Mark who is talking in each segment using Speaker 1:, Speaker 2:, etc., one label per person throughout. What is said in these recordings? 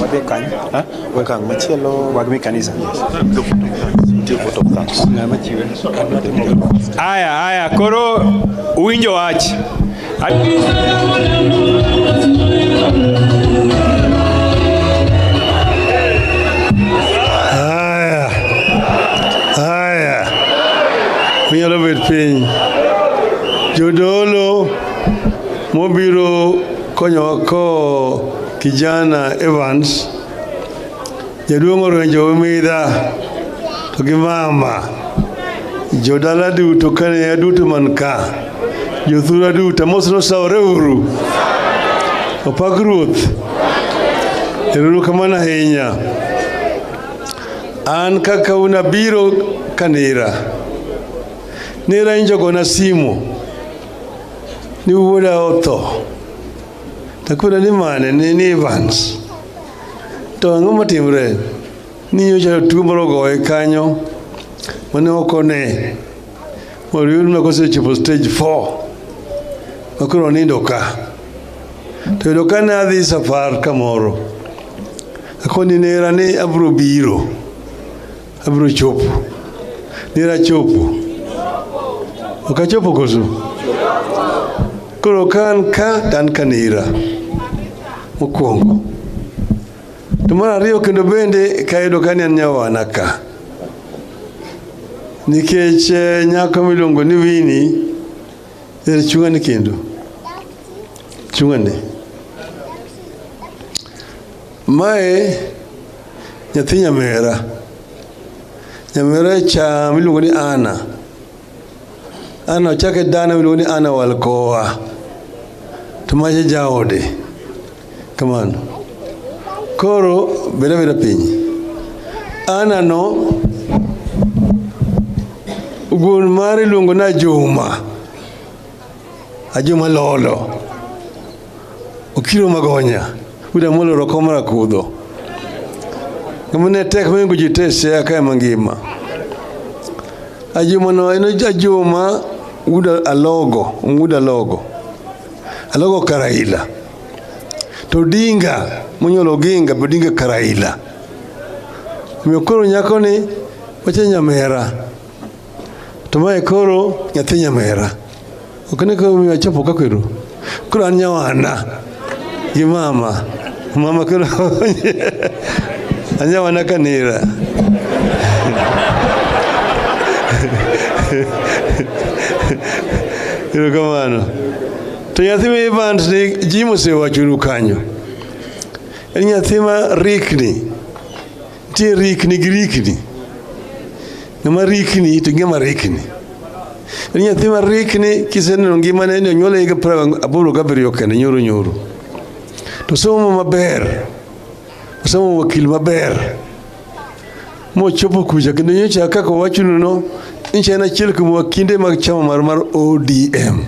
Speaker 1: Wadhi kany.
Speaker 2: Okang' machielo. Wadhi kanisa. Aya, aya, koro uwinjo wach. Aya,
Speaker 1: aya, unyalo bet piny. Jodolo mobiro konyowa ko kijana Evans jaduong' orenjo midha to gi mama jodala duto kane aduto man ka jothura duto mos nosawore uru opak ruoth eruru kamano ahinya an kaka unabiro kanira nira injogona simo ni wuoda otho takwera ni mane ni ni Evans to ang'o matimre ni nyocha tuo moro ogoye kanyo mane ok one moriyudna kosechopo stage 4 makoro onindo ka to yudo ka ne adhi safar kamoro akoni nera ni abro biro Abiro chopo. Nira chopo. Ok achopo koso? Koro ka an ka to an ka nira. Mokwongo. To mar ariyo kendo bende kayudo ka ni an nyawana ka. Nikech eh, nyako miluongo ni Winnie er chung'ani kendo. Chung'ani. Mae nyathi nyamera. Nyamera cha miluongo ni Ana. Ana ochake dana miluongo ni Ana Walkoa. To mache jaode. Kamano. Koro beda beda piny. Ana no wuon mare iluongo na Juma. Ajuma Lolo, Okiro Magonya, William Amolo Rokoma Rakudho. Ng'ama ne tek mohingo ji te Siaya kae mangima. Ajuma no en Ajuma Wood Alogo, Wood Alogo. Alogo Karaila. To Odinga, monyuolo Oginga, be Odinga Karaila. Omiyo koro nyakoni wacha nyamera. To mae koro nyathi nyamera. Ok ne koro miyo achopo ka kweru. Koro an nyawana gi mama. Mama koro anyawana kanira. Erokamano. To nyathi ma Evans ni ji mosewachonu kanyo. En nyathi ma rikni. Nitie rikni gi rikni. Ng'ama rikni to ng'ama rikni. En nyathi ma rikni kiseneno ngimane ni onyuole higa piero aboro gabiriyo kende nyoro nyoro. To somo maber. Osomo wakil maber. Mochopo kucha kendo nyocha kaka owachonu no nchi en achiel kuom wakinde mag chama mar mar ODM.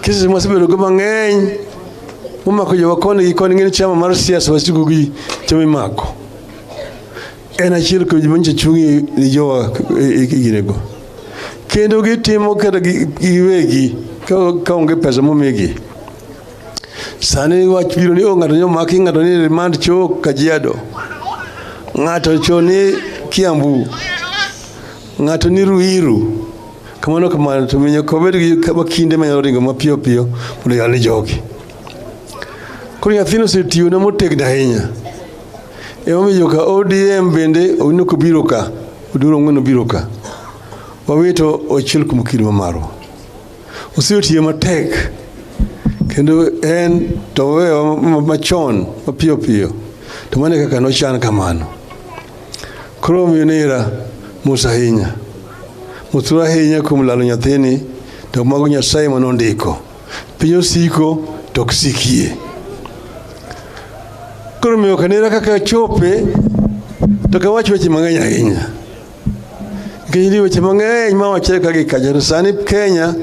Speaker 1: Kesi masebedogo mang'eny Umako jo wakoni gi koni ng'eni chama mar siasa wasigu gi chama imako. En achiel kuom joma nyicha chungi ni jowa e ginego. Kendo gitimo kata giwegi ka onge pesa momigi. Sani wach biro ni o ng'ato ni omaki ng'ato ni remand cho Kajiado. Ng'ato cho ni Kiambu. Ng'ato ni Ruiru. Kamano kamano to miyo kobed gi kama kinde manyalo ringo mapiyo piyo mondo yal ni jogi. Koro nyathino osetiyona motegno ahinya. Emomiyo ka ODM bende owino kobiro ka, oduro ng'weno biro ka. Wawito ochiel kuom kido ma marwa. Osetiyo matek kendo en to owewa machon mapiyo piyo to mano e kaka nochan kamano. Koro omiyo nera mos ahinya, motur ahinya kuom lalo nyathini, to mago Nyasaye ma nondiko. Piny osiko to ok sikie. Koro omiyo ok anera kaka chope, to ok awach weche mang'eny ahinya nikech nitie weche mang'eny ma wachre ka gi kacha. To sani Kenya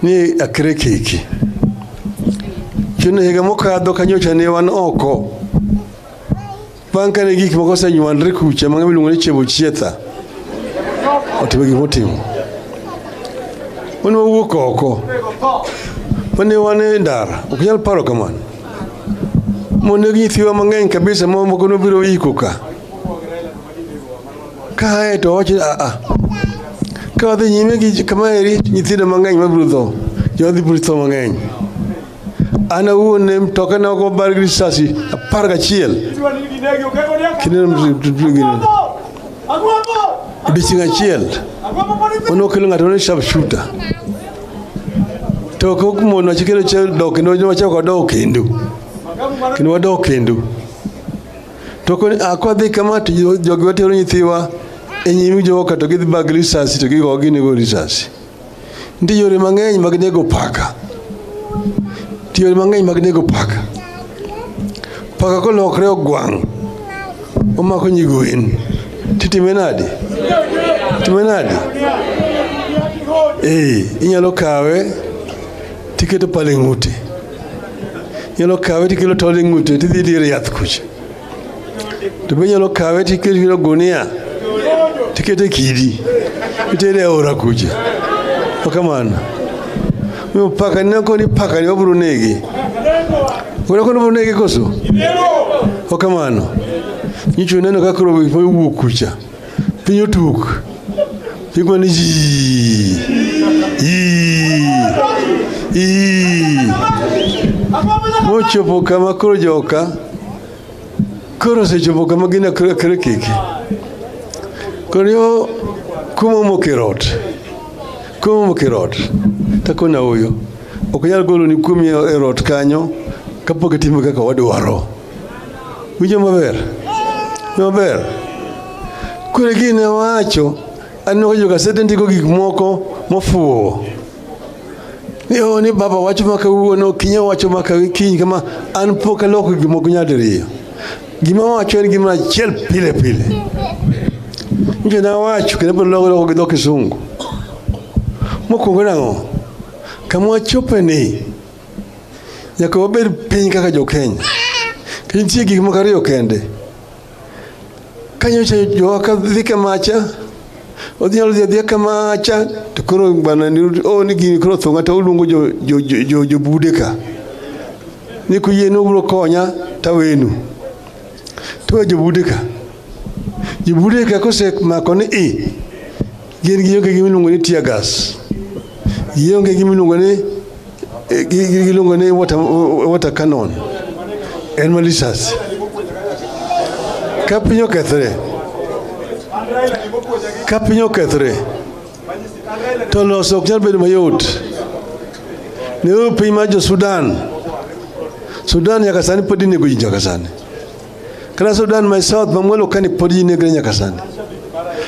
Speaker 1: ni akre kiki chuno higa mokadho kanyocha ne wan oko Bang' kane gik moko osenywandre kucha mang'ama iluongo ni Chebochietha otimo gik motimo. Wan wawuok oko. Mane wan e ndara, ok nyal paro kamano. Moneg nyithiwa mang'eny kabisa ma moko nobiro iko ka. Kae to wacho a a. Ka wadhi nyime gi kama eri nyithindo mang'eny mabiro tho. Jodhi biro tho mang'eny. An awuon ne mtokena ok obar gi risasi apar gachiel odiechieng' achiel mane okelo ng'ato ne sharp shooter to ok mono chikelo dok kendo wachako wadok kendo kendo wadok kendo to akwadhi kama to jogi watero nyithiwa e nyim jogo to gidhi bag risasi to gigogi nego risasi Nitie yore mang'eny mag nego paka. Nitie yore mang'eny mag nego paka. Paka kolokre ogwang' omako nyigwen titime nade? Time nade? Ee, inyalo kawe tiketo pale ng'ute, inyalo kawe tikelo tol e ng'ute tidhi dire yath kucha to be nyalo kawe to ikete kiro gunia to ikete kidi itere e aora kucha okamano miyo paka nina koni paka ni wabro negi wena koni wabro negi koso okamano nyicho neno kakro wuok kucha piny otuk piny mana yii yii yii mochopo kama koro joka koro osechopo kama gin akre keke koro yo kuma omoko e rot kuma omoko e rot takona oyo ok nyal golo ni kuomi e rot kanyo kapok itimo kaka wadwaro Winjo maber? Maber. Kure gini wacho aneno ka jogasede ndiko gik moko mofuwo ni o oh, ni baba wacho ma kawuono kinya wacho ma kiny kama an pok aloko gik moko nyadiriyo gima wacho en gima achiel pile pile nje na wacho kendo pod loko loko gi dho kisungu mokwongo nang'o kama wachope ni Nyaka wabed piny kaka jo-Kenya. Nitie gik moko ariyo kende. Ka nyocha jowa ka dhi kamacha, odhi nyalo dhi adhiya kamacha, to koro bana ni o ni gini koro thonga to uluongo jo jo jo, jo, jo bude ka. Ni kuyie ni ubiro konya tawenu. To jo bude ka. Jo bude ka kosemako ni i Gin gionge gi miluongo ni tear gas. Gionge gi miluongo ni eh, gi- gi- giluongo ni water, water cannon. En ma risasi. Ka piny okethre, ka piny okethre, to loso ok nyal bedo mayot. Ne piny mar jo Sudan. Sudan nyaka sani pod inego ji nyaka sani. Kata Sudan ma South ma mwalo kani pod ji negre nyaka sani.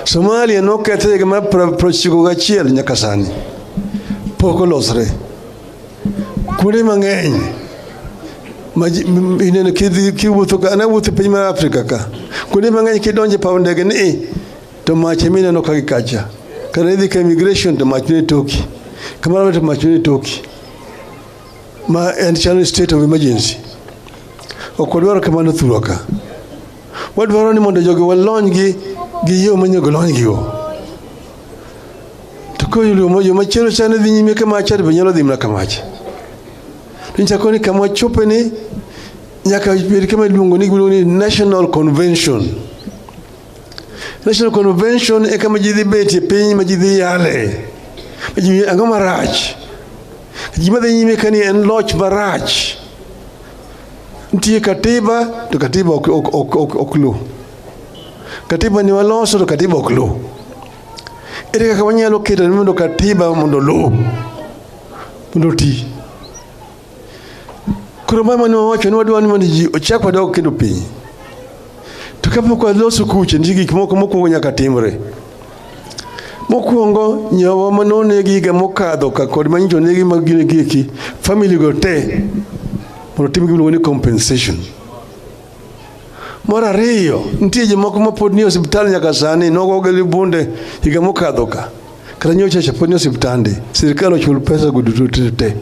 Speaker 1: Somalia nokethre higa mar prochiko gachiel nyaka sani pok olosre. Kuonde mang'eny ineno kiwuotho ka ana wuotho piny mar Afrika ka kuonde mang'eny kidonje paw ndege ni to mach ema ineno ka gikacha kata idhi ka immigration to mach ne toki kamano to mach ne toki ma en chalo state of emergency. Ok wadwaro kamano thurwa ka. Wadwaro ni mondo jogo walony gi gi yo manyago lony gigo. To ko yulo yo machielo chane dhi nyime kama achar be nyalo dhi mana kama achar. Nichako ni kama chope ni nyaka bed kama iluongo ni National Convention. National Convention eka ma ji dhi betie piny ma ji dhi yale ma ji ang'o marach ji madhi nyime ka ni en loch marach nitie katiba to katiba ok, ok, ok, ok, ok lu katiba ni waloso to katiba ok lu ere kaka wanyalo keto ni mondo katiba mondo lu mondo ti Koro mama mane wawacho ni wadwa ni mondo ji ochak wadog kendo piny. To kapok waloso kuche nitie gik moko mokwongo nyaka timre. Mokwongo nyawa mane onegi higa mokadho ka kod ma nyicho onegi mag gine gieki family go te mondo tim gimiluongo ni compensation. Mar ariyo nitie jomoko mapod nie osiptal nyaka sani nogogi gi bunde higa mokadho ka. kata nyocha chaponi osiptande sirikal ochul pesa go duto te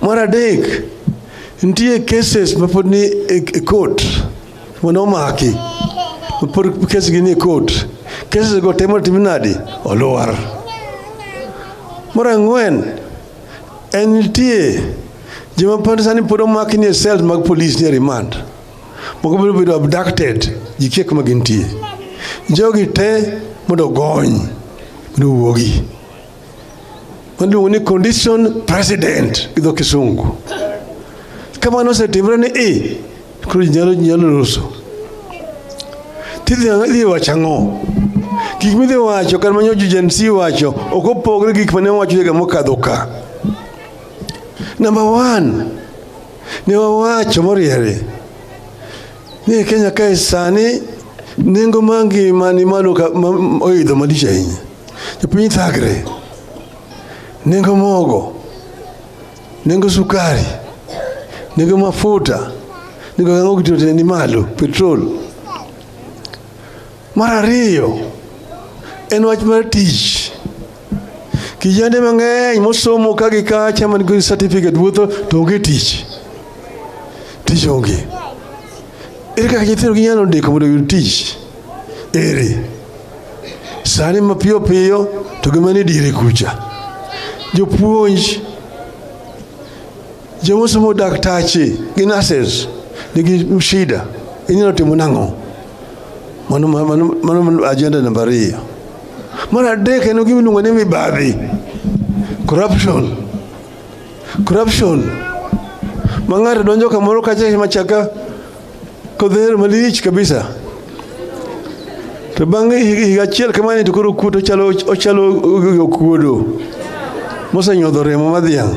Speaker 1: mar adek nitie cases mapod ni e, e court mane omaki mapod kesgi ni e court cases go temo timo nadi oluwar mar ang'wen en nitie joma pod sani pod omaki ni e cells mag police ni e remand moko biro bedo abducted ji kia kuma gintie jogi te mondo ogony mondo owuogi maluongo ni condition president gi dho kisungu kamano osetimre ni i koro ji nyalo ji nyalo loso tidhi idhi wacho ang'o gik midhi wacho kata manyo Gen Z wacho ok opogre gi gik mane wacho higa mokadho ka namba one ne wawacho moriere ni e Kenya kae sani nengo mar ngima ni malo oidho malich ahinya. Jopiny thagre, nengo mogo, nengo sukari, nengo mafuta, nengo gang'o gitote ni malo, petrol. Mar ariyo en wach mar tich. Kijende mang'eny mosomo ka gi kacha man gi certificate wuotho to onge tich. Tich onge. Ere kaka nyithindo ginyalo ndiko mondo giyud tich? Ere. Sani mapiyo piyo to gima ni dire kucha. Jopuonj joma osomo daktache gi nurses nigi shida inyalo timo nang'o? Mano, mano, mano ajenda namba ariyo. Mar adek en gima iluongo ni mibadhi, corruption. Corruption ma ng'ato donjo kamoro kacha machaka kodhero malich kabisa to bang' higa achiel kamani to koro kuot ochalo ochalo okuodo mosenyodho remo madhiang'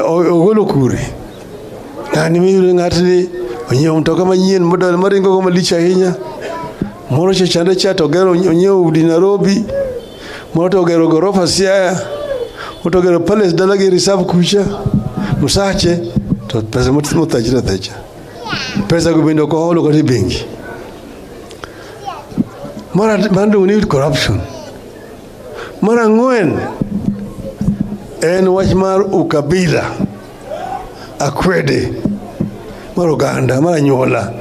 Speaker 1: ogolo kure Ng'ani miyudo ng'atni onyiewo mtoka manyien model maringo go malich ahinya. Moro cha chande cha to ogero onyiewo udi Nairobi. Moro to ogero gorofa Siaya. Moro to ogero palace dala gi reserve kucha. Musache to pesa mothachre athacha. Pesa go bende ok oholo kata e bengi. Mara manduong' ni corruption. Mara ang'wen en wach mar ukabila. akwede mar oganda mar anyuola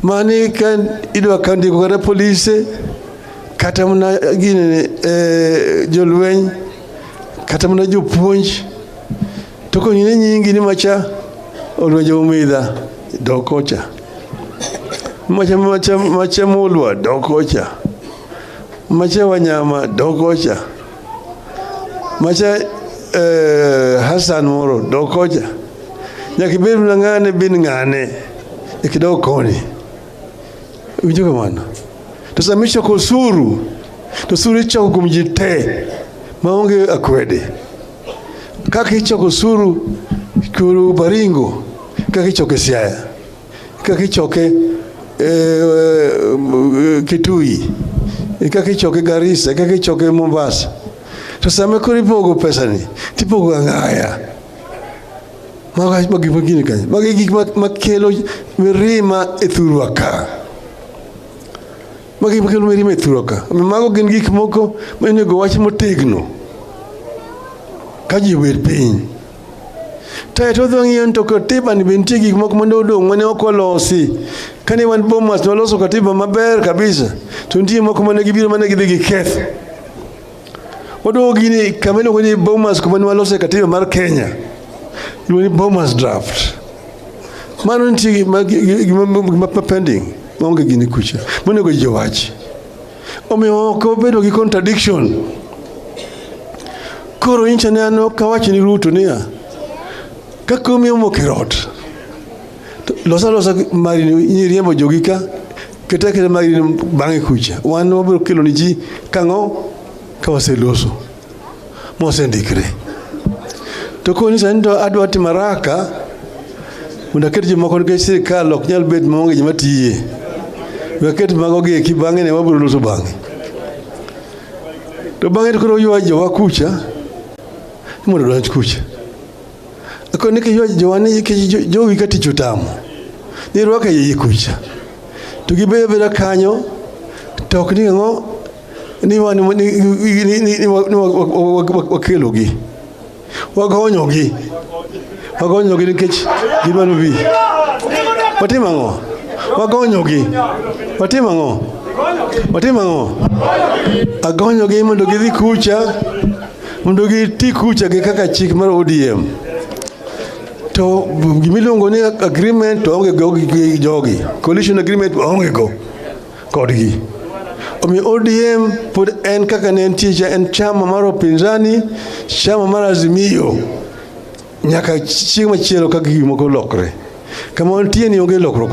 Speaker 1: mani ka idwa ka ndiko kata polise kata mana gini e, jolweny kata mana jopuonj to konyine nyingi ni macha olwenje umidha dokocha macha macha macha mulwa dokocha macha wanyama dokocha macha eh, Hassan moro dokocha nyaka ibed na ng'ane bin ng'ane ikidog koni winjo kamano to sama ichoko osuru to osuru ichoko kuom ji te maonge akwede kaka ichoko osuru kuru baringo kaka ichoko e siaya Kaka ichoke e, e, Kitui, e, kaka ichoke Garissa, kaka ichoke Mombasa. To sama koro ipogo pesani, tipogo ang'aya. Mago ma gik magini kanyo. Mago e gik ma- makelo mirima e thurwa ka. Mago e gik makelo mirima e thurwa ka. Omiyo Mago gin gik moko monego wach motegno ka ji obet piny. Tayo to odhi ng'iyo ni to katiba ni be nitie gik moko mane odong' mane ok olosi. Kane wan Bomas ne waloso katiba maber kabisa to nitie moko mane gibiro mane gidhi giketho. Waduogo gini kama iluongo ni Bomas kuma ne walose katiba mar Kenya. Iluongo ni Bomas draft. Mano nitie gima gima pending maonge gini kucha. Monego ji owach. Omiyo ok obedo gi contradiction. Koro incha ne an ok awach ni Ruto niya, ka komi omoko e rot, to losa losa mari ni riembo jogi ka keta keta mari ni bang'e kucha. Wan wabiro kelo ni ji kang'o ka waseloso. mosendikre. To koni sani to adwa timo haraka mondo aket jomoko nikech sirikal ok nyal bet maonge joma tiye. We aket mago gi eki bang'e ne wabiro loso bang'e. To bang'e to koro ywa jowa kucha ni mondo odonj kucha. Ako ni kiywa jowa ni ki- jo- jowi ka tich otamo. Ni rwaka yeye kucha. To gibedo abeda kanyo to ok ni ang'o ni wakelogi wagonyogi wagonyogi nikech gidwaro bi watim ang'o wagonyogi watim ang'o watim ang'o agonyogi mondo gidhi kucha mondo giti kucha gi kaka chik mar ODM to gimiluongo ni agreement to onge go gi jogi coalition agreement onge go kodgi. Omiyo ODM pod en kaka ne entie cha en chama mar opinzani, chama mar Azimio nyaka chieng' machielo ka gik moko lokre. Kama wantie ni onge lokruok